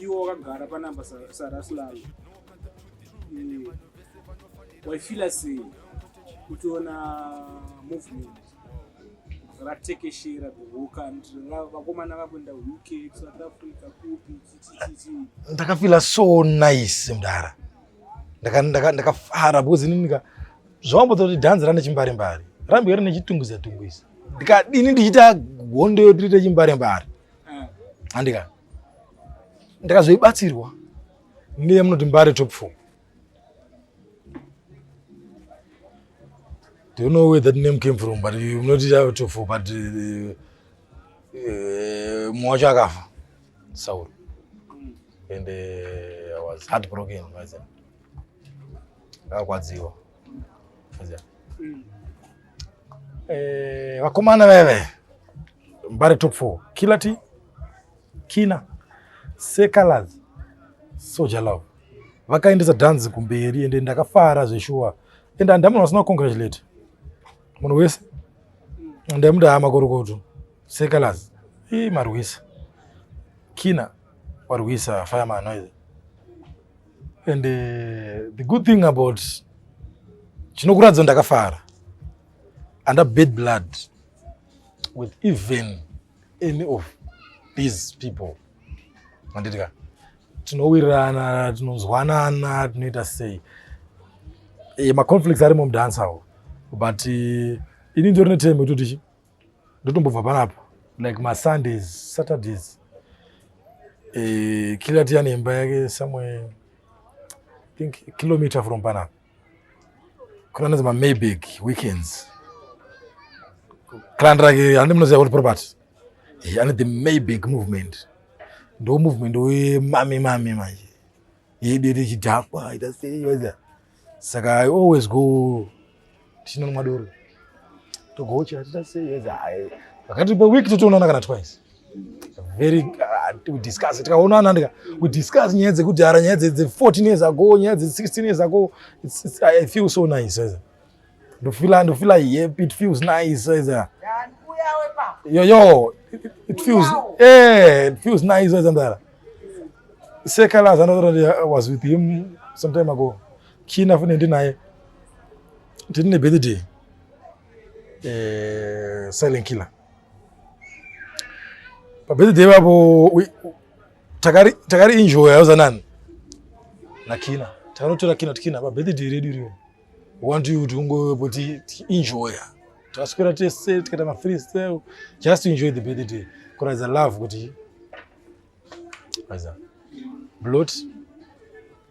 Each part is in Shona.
iwo wakagara panamba saraslalo mm. waifila sei kutiona movement ratekeshera vakomana vakuenda uk south africa kupi chichichichi ndakafila so nice mdara ndakafara ndaka, ndaka because ini nika zvawambodza kuti dhanzi rane chimbare mbare rambe rine chitungwiza tungwiza ndikadini ndichiita hondo yotirite chimbare mbare eh. andika ndakazoibatsirwa ndiye munoti mbare top four do you know where that name came from but you not top four but uh, uh, mwacho akafa Saul and uh, I was heartbroken maziva ndakakwadziwa maziva mm. eh, vakomana veve mbare top four killer t kina sekalaz soja love vakaendesa dhanzi kumberi ende ndakafara zveshuwa ende handamuna vasina kucongratulate munhu wese ndamuda hama korokoto Sekalaz, ii marwisa. Kina, warwisa fireman noise. And uh, the good thing about chinokuratidza ndakafara and I bad blood with even any of these people manditika tinowirirana tinonzwanana tinoita sei eh, maconflicts arimo mudansawo but uh, ini ndorine time yekutoti ndotombobva panapo like masundays saturdays eh, kila tiya nemba yake somewhere think kilometer from panapo kuna nazi mamayback weekends clan rake handi munoziva kuti property eh, ane the mayback movement ndo movement wemami mami manje yedu yete chidhakwa ita sei saka i always go tichinomwa doro togocha hatita sei pakati peweek totoonana kana twice very uh, to discuss tikaonana ndika we discuss nyaya dzekudhara nyaya dze 14 years ago nyaya dze 16 years ago it's, it's, i feel so nice as ndofila ndofila yep it feels nice as a yo yo it feels eh it feels nice as a seka la zana I was with him some time ago kina fune ndinaye ndine birthday eh silent killer pa birthday babo takari takari enjoy yauzanani na kina takarotora kina tikina pa birthday redu rio want you to go but enjoy taswera tese tikaita ma free style just enjoy the birthday kuratidza love kuti waiza blot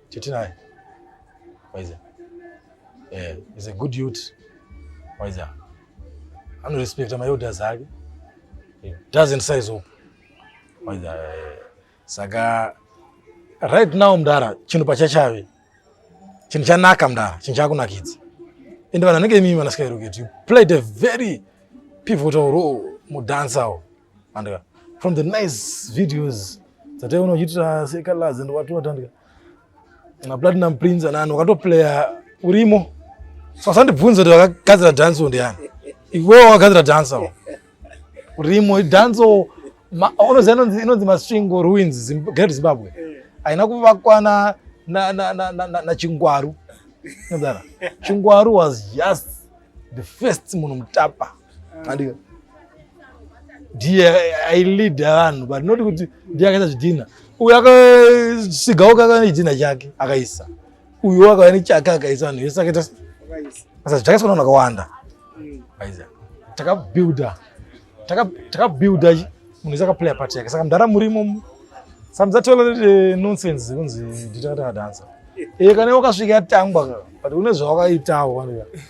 chetinaye waiza eh is a good youth waiza anorespecta maelders ake doesn't size up waiza eh. saka right now mdara chinhu pachachave chinhu chanaka mdara chinhu chakunakidza ende vanhu vanenge imimi vanaskaeroket you played a very pivotal role mudansawo andika from the nice videos dzataiona uchiitira sekalazi and watiwatandika Na Platinum Prince anani wakatoplaya urimo. So asandibvunze kuti wakagadzira dance ndiani. Iwewe wakagadzira dance awo. Urimo dance unoziva inonzi inonzi Masvingo Ruins Great Zimbabwe. Haina kuvakwana na na na na, na, na Chingwaru. Chingwaru was just the first munhu mutapa. andika ndiye ailida vanhu but not kuti ndiye akaisa zvidhina uyu akasigawo kakava nechidhina chake akaisa uyu akava nechake akaisa vanhu vese akaita saka zvakaiswa navanhu akawanda takabuilda takabuilda munhu wese akaplaya part yake saka mdara murimo samzatola eh, nonsense kunzi nditakatakadansa e eh, kana wakasvika yatangwa but une zvawakaitawo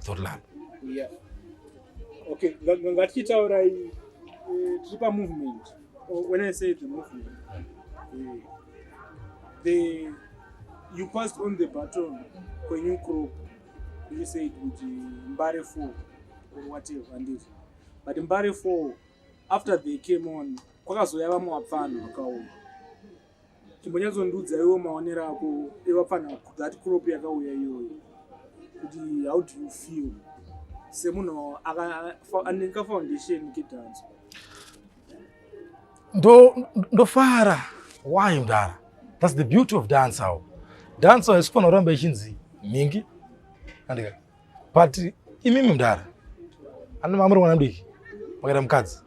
Zotland. Yeah. Okay, ngatichitaura iyi eh, tiri pamovement. Oh, when I say the movement, eh, the you passed on the baton kwenyu crop you said kuti mbare four or whatever handizvo but mbare four after they came on kwakazouya vamwe vapfanhu vakaoma chimbonyatsondiudza iwo maonero ako evapfanha that crop yakauya iyoyo kuti how do you feel semunhu aneka foundation kedanso ndofara why mdara thats the beauty of dancer dancer isikufanira kuramba ichinzi mhingi andika but imi mudhara ana mama mwana mudiki makaita mukadzi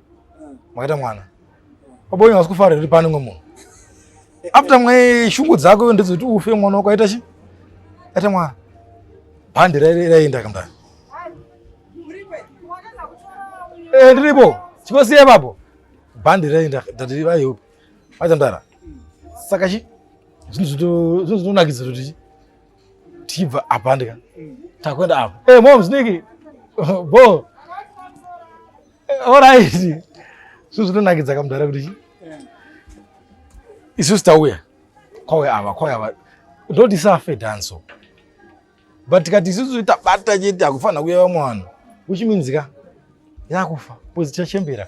makaita mwana pabonya asi kufara iri pane ngomunhu after mwe shungu dzako ndizoti ufe mwana wako aita chi aita mwana bhandi raenda kamdara eh, ndiripo chikosiye papo bhandi raenda ndati vayo aita mdara saka chi zvinhu zvinonakidza kuti chi tichibva apa ndika takuenda apa e eh, mom sniki bo eh, orit zvo zvinonakidza kamudhara kuti chi isusu tauya kwauya ava kwauya ava ndotisafe danso but tikati isusu tabata chete akufanira kuya vamwe vanhu uchiminzika yakufa pozi tichachembera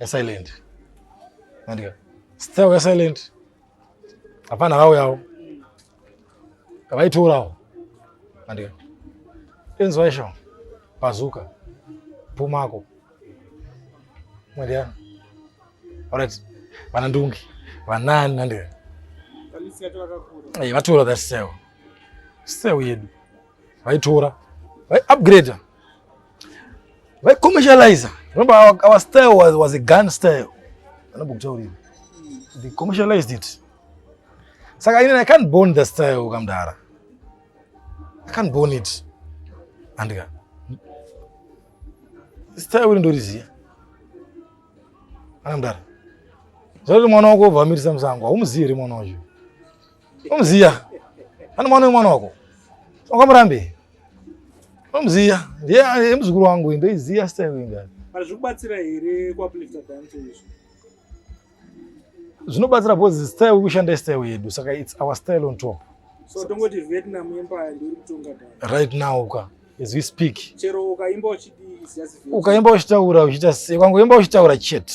ya silent andika star ya silent hapana rao yao kavaitorawo andika enzwa isho pazuka pumako mwadiana alright vana ndungi vanani andika vatora that sale sale yedu vaitora vaiupgrader vaicommercializer remember our, our style was, was a gun style anombokutaurira they commercialized it saka inini i can't born the style kamdara i can't born it andika style iri ndoriziya akamdara zvakuti mwana wako obva amirisa musango haumuzivi here mwana wacho Unomuziya? Ani mwana wemwana wako? Wakamurambe? Unomuziya? Ndiye muzukuru wangu ndoiziya style inga. Kana zvikubatsira here kwa uplifter dance izvo? Zvinobatsira because style wekushanda style yedu saka it's our style on top. So tongoti Vietnam empire ndio kutonga dance. Right now ka as we speak. Chero ukaimba uchidi ukaimba uchitaura uchita kwangu imba uchitaura chete.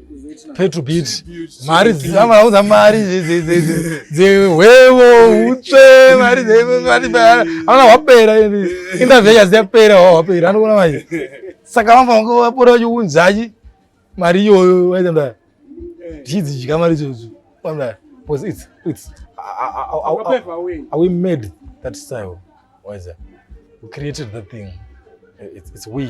petro bit mari dzavaudza mari dzehwevo utsve mari aona hwapera interview yasi yapera hwapera anoona manje saka vamba vanga vapora vachiunzachi mari iyoyo vaita mdaya tichidzidya mari idzodzo mdaya because it's it's are we made that style why is that we created that thing it's, it's we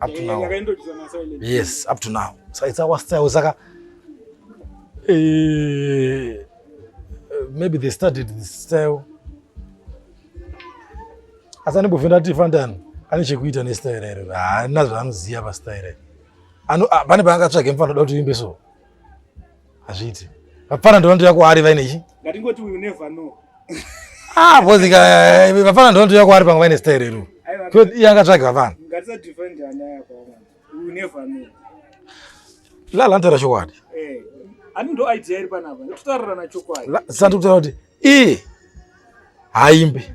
up to now yes up to now so it's our style saka eh, maybe they started this style asi anembove ndati fandani ane chekuita nestyle here haana zvaanoziva pastyle pane paangatsvage mfana da kuti uimbe so Hazviiti. Vapfana ndonotouya kwaari vaine chi? Ngatingoti we never know. Ah, bozi ka eh, vapfana ndonotouya kwaari pamwe vaine style ru. Ko iye angatsvage vapfana. Ngatisa defend ana yako. We never know. La la ntara chokwadi. Eh. Ani ndo idea iri panapa. Totarira na chokwadi. Sasa ndikutaura kuti i haimbe.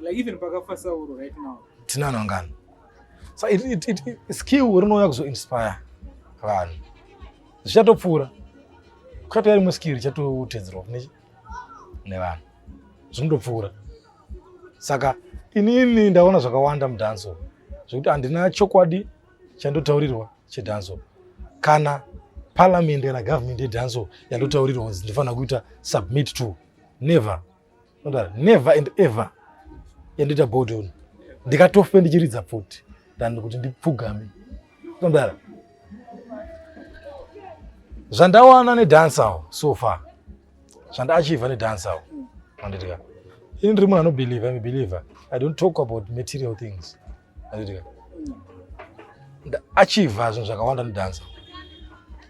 like even pakafa sauro right now tinana ngano so it, it, it, it, skill rinouya kuzoinspire vanhu zvichatopfuura kuchatouya rimwe skill richatotedzerwa kune nevanhu zvinotopfuura saka inini ndaona zvakawanda mudhanso zvekuti handina chokwadi chandotaurirwa chedhanso kana parliament kana government yedhanso yandotaurirwa kunzi ndifanira kuita submit to never Nodaro never and ever yandoita bodown ndikatofe ndichiridza pfuti than kuti ndipfugame. Nodaro zvandawana nedancer so far zvandaachiva nedancer anditika ini ndiri munhu anobelieve im believer i don't talk about material things anditika ndaachiva zvinhu zvakawanda nedancer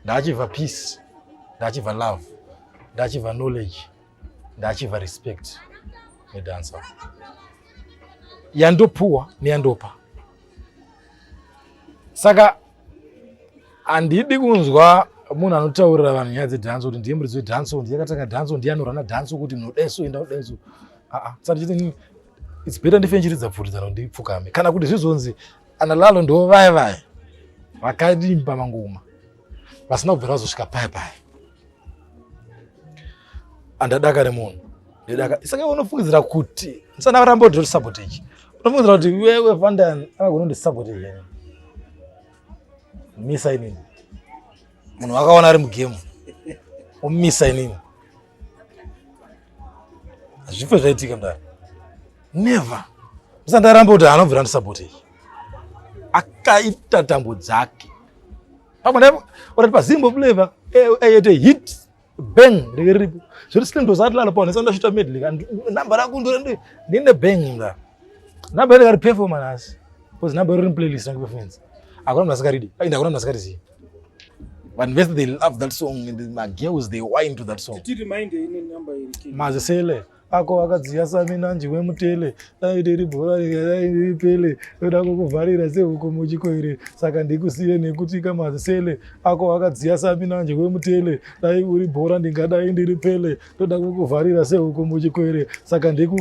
ndaachiva peace ndaachiva love ndaachiva knowledge ndachiva respect nedancer yandopuwa neyandopa saka handidi kunzwa munhu anotaurira vanhu nyaya dzedanso kuti ndiye muridzi wedanso ndiye akatanga danso ndiye anorana danso kuti munodeso enda kudeso aa saka ndichiti its better ndife ndichiridza pfuridzano ndipfukame kana kuti zvizonzi analalo ndo vaye vaye vakarimba mangoma vasina kubvira vazosvika paya paya andadakare munhu ndidaka saka unofungidzira kuti ndisana varamba kuti ndisapota ichi unofungidzira kuti wewe vandani akagona kundisapota ichi misa inini munhu wakaona ari mugemu omisa inini hazvife zvaitika mdara never musandaramba kuti anobvira ndisapoti iyi akaita tambo dzake pamwe naipo orati pazimbo flavor ayete eh, hit bang rike riripo zviri slim to zati lalo paone sanda shita medley and number rako ndore ndi ndine bang nga number rika ri performance because number riri playlist rangu performance akona mnasika ridi inda akona mnasika riziva vanhu vese they love that song and magirls they wine to that song mazisele ako akadziya saminanji wemutele dai riri bhora dai riri pele roda kukuvharira sehuku muchikoire saka ndikusiye nekuti kamazisele ako akadziya saminanji wemutele dai uri bhora ndingadai ndiri pele roda kukuvharira sehuku muchikoire saka ndiku